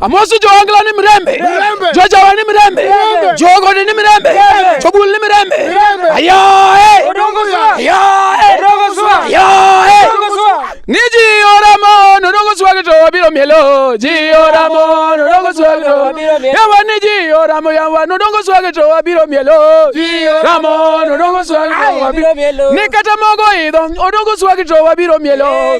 amosi jowangla ni mirembe jojawa ni mirembe jogode ni mirembe jobul ni mirembe ayae ni jioramo nodongo swagi to wabiro mielo jioramo nodongo swagi to yawa ni jioramo yawa nodongo swagi to wabiro mielo ramo nodongo swagi to wabiro mielo ni kata mogo idho odongo swagi to wabiro mielo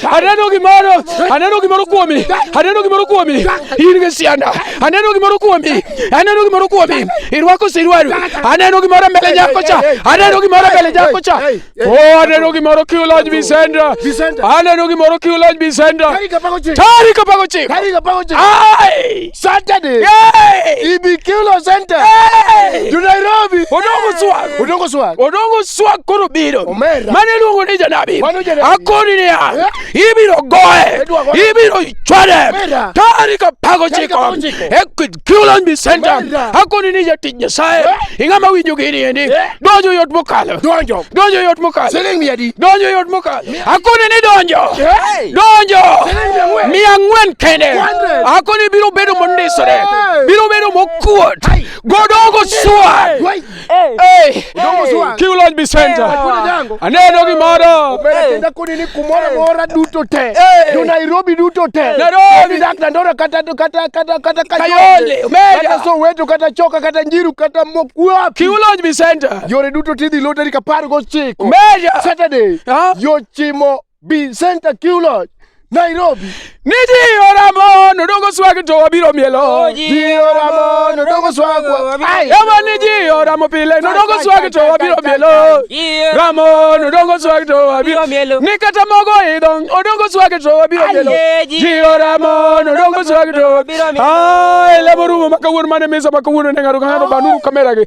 Aneno gimoro, aneno gimoro kuomi, aneno gimoro kuomi. In gi sianda, aneno gimoro kuomi, aneno gimoro kuomi. Irwako sirwaru, aneno gimoro mbele nyako cha, aneno gimoro mbele nyako cha. Oh, aneno gimoro kiuloj Vicendra, aneno gimoro kiuloj Vicendra. Tarik apago chik. Tarik apago chik. Tarik apago chik. Ai! Saturday. Yay! Ibikilo Center. Yay! To Nairobi. Odongo swag. Odongo swag. Odongo swag koro biro. Omera. Mane luongo ni janabi. Mano janabi. Akoni ni ya. Eh? Ibiro goe. Ibiro chwade. Tari ka pago chiko. Ekid kilon bi center. Akoni ni ya tijja sae. Eh? Ingama winjo gini endi. Eh? Dojo yot mokalo. Dojo. Dojo yot mokalo. Siling miadi. Dojo yot mokalo. Hakuna ni donjo. Donjo. Mia ng'wen kende. Hakuna biro bedo mondisore. Biro bedo mokuot. Godongo swa. Eh. Kiulony Bisenta. Aneno gi moro. Kenda kuni ni kumora mora duto te. Jo Nairobi duto te. Nairobi. Dak na ndora kata kata kata kata kayole. Kata so wetu kata choka kata njiru kata mokuap. Kiulony Bisenta. Yore duto tidhi loteri kapar go Kariakoo. Meja. Saturday. Ha? Yochimo Bi Center Q Lodge. Nairobi. Ni jiyo ramo nodongo swag to wabiro mielo. Jiyo ramo nodongo swag. Ai. Ema ni jiyo ramo pile nodongo swag to wabiro mielo. Ramo nodongo swag to wabiro mielo. Ni kata mogo idong odongo swag to wabiro mielo. Jiyo ramo nodongo swag to wabiro mielo. Ai, lemo rumo makawuono mane mesa makawuono ne ng'ato ka ng'ato banuru kamera gi.